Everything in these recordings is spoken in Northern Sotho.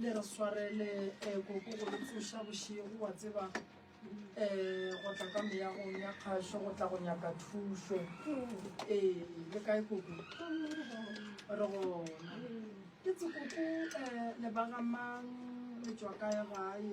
le re swarele um koko go le tsoša bošego wa tseba um go tla ka meyagong ya kgašo go tla go nyaka thušo ee le kae koko re gona ke tse koko um le bagamang le tswa kae gae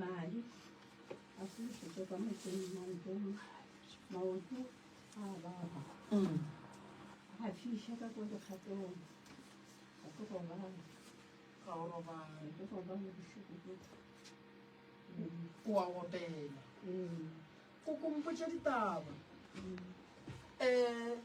Madi a fološetšwa ka motseng maotong, maoto a baba a fiša ka kwa dikgatong, ga ke gobala ga o robale ke gobala bošoko ke o a opela ee ko kompotša ditaba um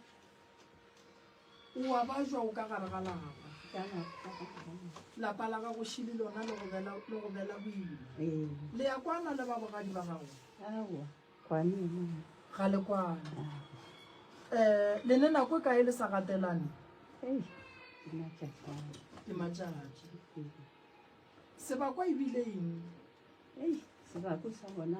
O a bajwa o ka gare ga lapa. Ka gare ga lapa. Lapa la gago šili lona le go bela le go bela boima. Ee. Le ya kwana le ba bogadi ba gago. Aowa. Kwane yona. Ga le kwane. Eh le ne nako e kae le sa gatelane? Ei. Ke matšatšana. Ke matšatši. Sebakwa e bile eng? Ei, sebako sa bona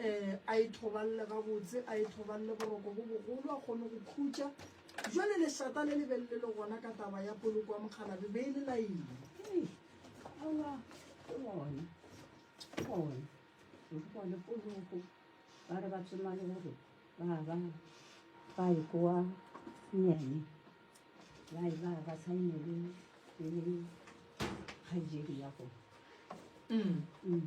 um a e thobalele gabotse a e thobalele boroko bo bogolo a kgone go khutša jale lešata le lebele le le gona ka taba ya poloko ya mokgalabe be e le laile le poloko ba re ba tsoma le gore ba ba ba e kowa nyene ba e ba ba saine le le kgaijedi ya go mm. mm.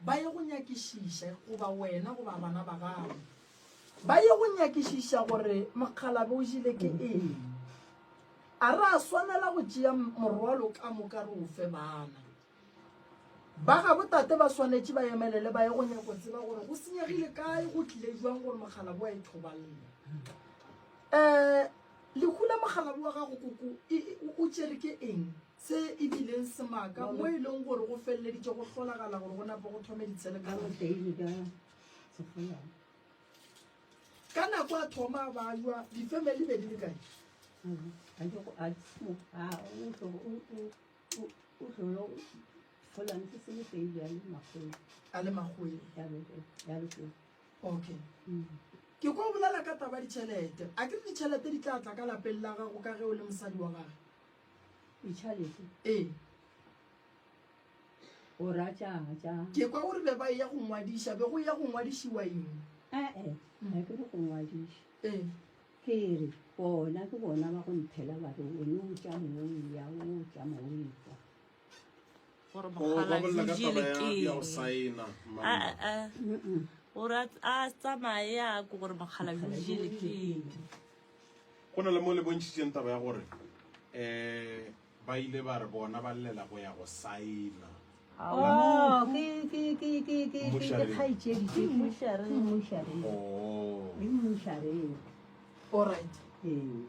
ba ye go nyakišiša goba wena goba bana ba gago ba ye go nyakišiša gore mokgalabe o jile ke eng a re a swanela go tšea morwalo ka moka re ofe bana ba ga botate ba swanetše ba emelele ba ye go nyako tseba gore go senyegile kae go tlile jwang gore mokgalabe wa e thobalela um lehu la mokgalabe wa gago koko o tšere ke eng se e bileng semaka mo e leng gore go feleleditše go hlolagala gore go nape go thome ditshelekaa ka nako a thoma ba jwa difamily be di le kae a le magoe okay mm. ke ko bolela ka taba ditšhelete a ke re ditšhelete di tla tla ka lapeng la gago ka ge o le mosadi wa gage Ichalete. Ee. O ra tšanga tšanga. Ke kwa gore be ba ya go ngwadiša, be go ya go ngwadišiwa eng? Eh eh, ga ke re go ngwadiša. Ee. Ke re bona ke bona ba go nthela ba re o ne o tša mong ya o tša mong kwa. Gore mogala o jile ke. Ya go saena mama. Ah ah. O ra a tsamaye ya go gore mogala o jile ke. Go na le mo le bontšhitšeng taba ya gore um ba ile ba re bona ba llela go ya go saena Alright. Um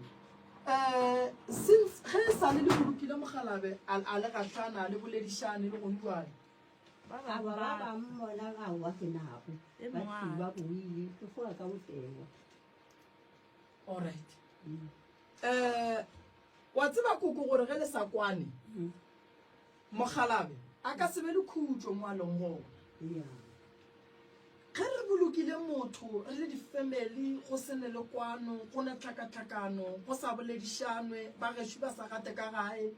since ge e sale le bolokile mogalabe a a le gahlana le boledišane le gong jwale ba bangwe bona ga wa ke nako ba thiba boile ke foa ka botewa alright um wa tseba koko gore ge le sa kwane mogalabe a ka sebe le khutšo mo a leng gona ge re bolokile motho re le di-family go se ne le kwano go na tlhakatlhakano go sa boledišanwe ba gešo ba sa gate ka gae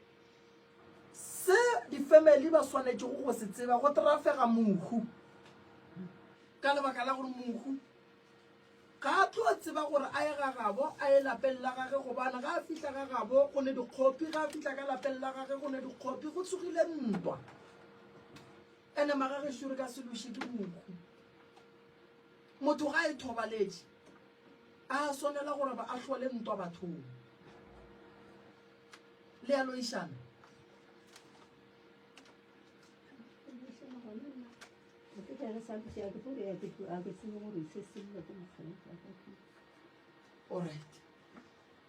se di-family ba swanetšego go se tseba go trafega mohu ka lebaka la gore mohu Ga a tlo tseba gore a ye ga gabo, a ye lapeng la gage, gobane ga a fihla ga gabo go ne dikgopi, ga a fihla ka lapeng la gage go ne dikgopi, go tsogile ntwa. Ene magagešo re ka se loše ke mokhu. Motho ga a e thobaletše, a swanela gore ba a hlole ntwa bathong. Le a loišana? orit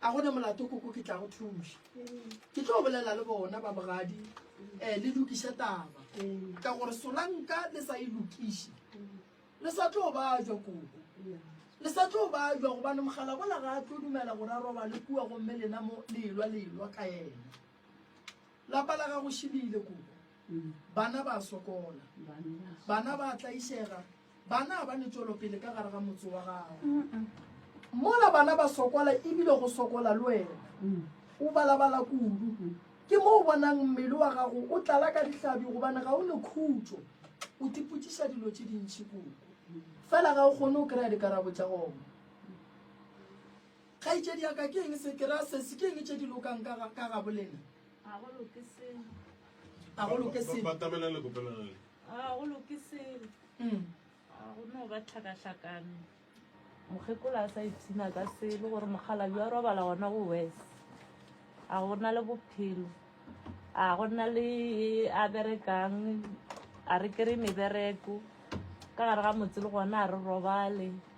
a gone molato koko ke tla go thuša ke tlo bolela le bona ba bogadi um eh, le lokiše taba ka gore solanka le sa e lokiše le sa tlo ba jwa koko le sa tlo ba jwa gobane mogala bola ga a tlo dumela gore a roba le kua gomme lena mo lelwa lelwa ka ena Lapa la gago šibile kobo. Bana ba sokola. Bana ba tlaišega. Bana ba ne tšwelopele ka gare ga motse wa gago. Mola bana ba sokola ebile go sokola le wena. O balabala kudu. Ke mo o bonang mmele wa gago o tlala ka dihlabi gobane ga o ne khutšo. O tipotsiša dilo tše dintši koko. Fela ga o kgone o kry-a dikarabo tša gona. Kgaetšedi ya ka, ke eng se? Ke ra se se, ke eng tše di lokang ka ga, ka ga bolena? Ga go loke selo. Ga go loke Ba- selo. batamela le kopelana le Ga go loke selo. Mm. Ga go no ba tlhakatlhakano. Mokgekolo a sa ipshina ka selo gore mokgalabi wa robala gona go wes. A go na le bophelo. A go na le e a berekang. A re kry mebereko. Ka gare ga motse le gona a re robale.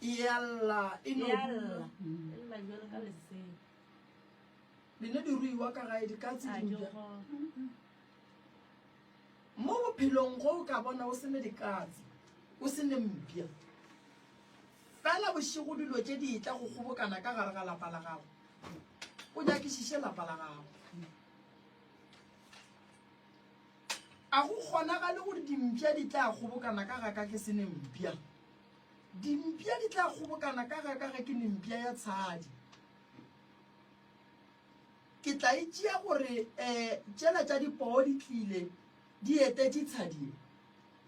Yalla e no dula. Dine di ruiwa ka gae di ka tse di dula. Mo bophelong go ka bona o sene di ka tse. O sene mpia. Fela boshigo dilo tse di tla go gobokana ka gare ga lapa la gago. O nyakišiše lapa la gago. A go kgonagale gore dimpša di tla kgobokana ka ga ka ke se ne mpša? Dimpša di tla kgobokana ka ga ka ge ke ne mpša ya tshadi. Ke tla e tšea gore um tšela tša dipoo di tlile di etetše tshadi ye.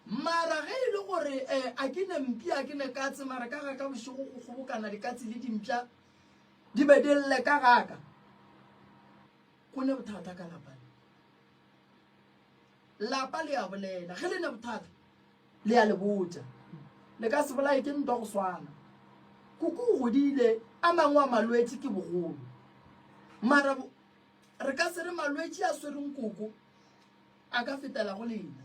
Mara ge e le gore um a ke ne mpša, a ke ne katse, mara ka ga ka bošego go kgobokana dikatse le dimpša di be di lle ka ga ka. Go ne bothata ka lapa le. Lapa le a bolela ge le ne bothata le a le botša. Le ka se bolaye ke ntwa go swana. Kuku o godile a mangwe a malwetši ke bogolo. Mara re ka se re malwetši a swereng Kuku a ka fetela go lena.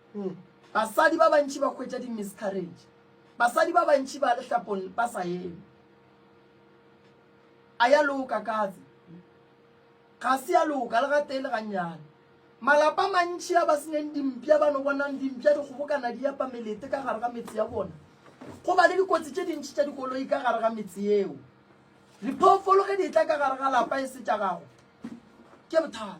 Mm. Basadi ba bantši ba hwetša di-miscarriage. Basadi ba bantši ba lehlapong ba sa eme. A ya loka katse. Ga se ya loka le ga tele gannyane. Malapa mantši a ba senyeng dimpša ba no bonang dimpša di kgobokana di yapa melete ka gare ga metse ya bona. Go ba le dikotsi tše dintši tša dikoloi ka gare ga metse yeo. Diphoofolo ge di tla ka gare ga lapa e se tša gago. Ke bothata.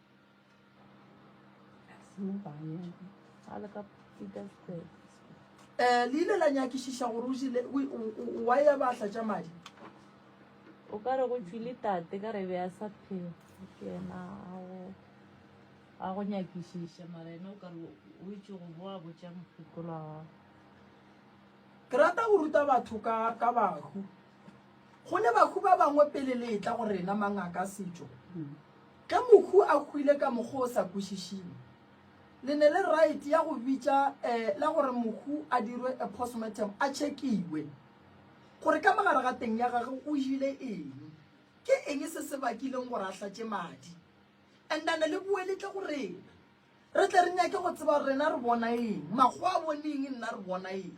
Eh, le ile la nyakišiša gore o jile wa ya ba tla tša madi o ka re go tšwile tate ka re be a sa phela ke ena a go nyakišiša mara ena o ka re o itse go boa botša mokgopolo wa gago ke rata go ruta batho ka ka bahu go ne bahu ba bangwe pele le etla go rena mangaka setšo mm. Ge Mohu a hwile ka mokgwa o sa kwešišing, le ne le right ya go bitša eh la gore Mohu a dirwe a postmortem, a tšhekiwe gore ka mogare ga teng ya gagwe o jile eng, ke eng se se bakileng gore a hlatše madi. And a ne le boeletle go rena, re tle re nyake go tseba gore rena re bona eng, makgowa a bone eng nna re bona eng.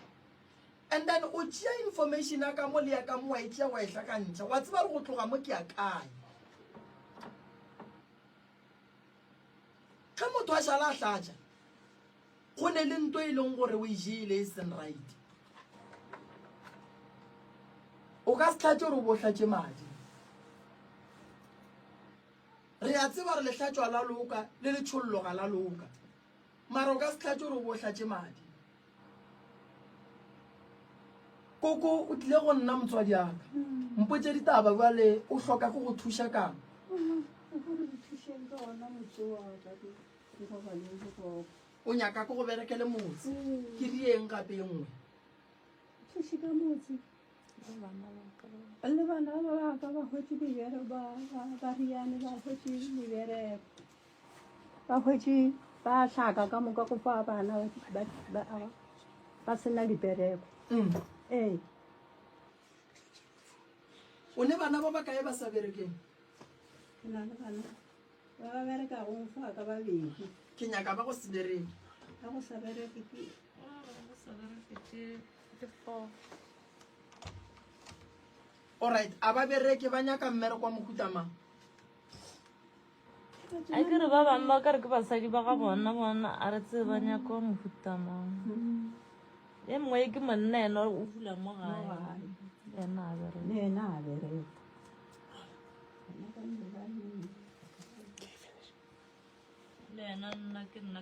And then o tšea information ya ka mo le ya ka mo wa e tšea wa e hlakantšha wa tseba gore go tloga mo ke ya kae ge motho a šala a hlatša go ne le nto e leng gore o e jele e seng right o ka se tlhatše gore o bo hlatše madi re a tseba re lehlatšwa la loka le letsholloga la loka mara o ka se tlhatše gore o bo hlatše madi koko o tlile go nna motswadi aka mpotse ditaba bjale o hloka go go thuša kang o nyaka ko go berekele motse ke rieng gape e nngwe le bana ba baka ba hwetse dibereko ba riane ba hwetse dibereko ba hwetše ba hlaka ka moka go fa bana ba sena dipereko mm. ee o ne bana ba ba kae ba sa berekeng ke na le bana ba ba bereka go fa ka babedi ke nyaka ba go se bereke ba go sa bereke ke alright a ba bereke ba nyaka mmereko wa mohutamang a ke re ba bangwe ba ka re ke basadi ba ga bona bona a re tsee ba nyaka wa mofuta mang e mongwe ke monna ena o fula mo gae ena a bereena a beree le ena nna ke nna